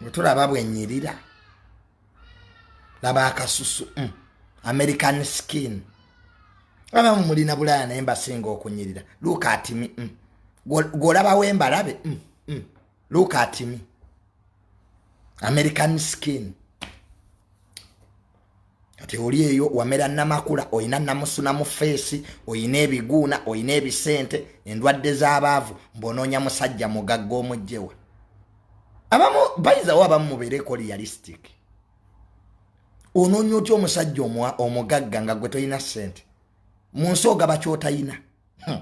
bwe tulaba bwenyirira laba akasusu mm. american skin abamu mulina bulaya naye mbasinga okunyirira luka atimi mm. gwolabawo embalabe mm. mm. luka atimi american skin kati oli eyo wamera namakula olina namusuna mu feesi olina ebiguuna olina ebisente endwadde z'abaavu mbonoonya musajja mugagga omugjewa abamu bayizawo abamu mubeereko realistic onoonya otya omusajja omugagga nga gwe tolina sente mu nsi ogaba kyotayina hmm.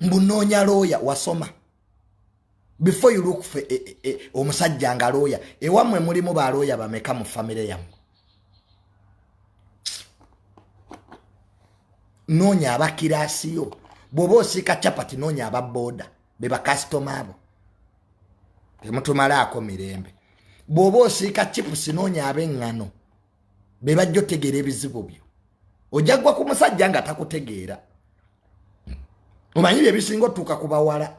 mbunoonya looya wasoma before you look for e, e, e, omusajja nga looya ewamwe mulimu ba looya bameka mu famire yamwe noonya abakiraasi yo bw'oba osiika capati noonya ababooda be bakasitoma abo temutumalaako mirembe bw'oba osiika chipusi noonya ab'eŋŋano be bajja otegeera ebizibu byo ojja kugwa ku musajja nga takutegeera omanyi bye bisinga otuuka ku bawala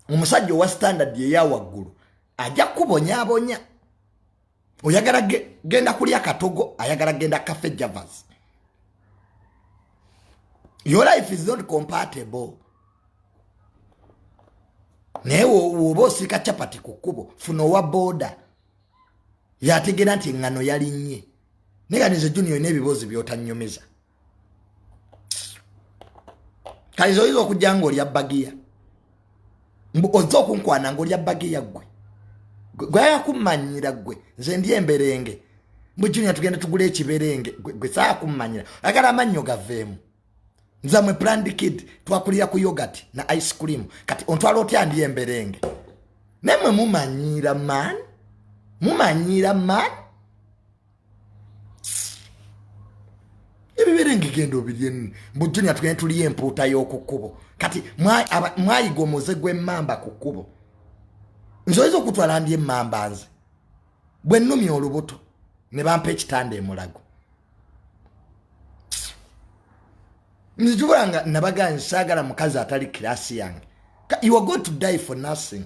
omusajja owa standard eya waggulu ajja kukubonyabonya oyagala genda kulya katogo ayagala genda cafe javas your life is not compatible naye woba osiika chapati ku kkubo funa owa booda yategeera nti eŋŋano yalinnye naye kati nze junior olina ebiboozi byotanyumiza kati nze oyinza okujja nga olya bagiya mbu ozze okunkwana nga olya bagiya ggwe gweyakummanyira ggwe nze ndi emberenge mbu junior tugenda tugula ekiberenge gwe saakummanyira agala amannyo gaveemu nzamwe planned kid twakulira ku yogurt na ice cream kati ontwala otya ndi emberenge nemwe mumanyiira man mumanyiira man ebiberenge genda obirye mbu junia tugende tuliyo empuuta y'oku kkubo kati mwayiga omuze gw'emmamba ku kkubo nze oyinza okutwala ndi emmamba nze bwe nnumya olubuto ne bampa ekitanda emulago nzijubula nga nabaga nsaagala mukazi atali kirasi yange you are going to die for nothing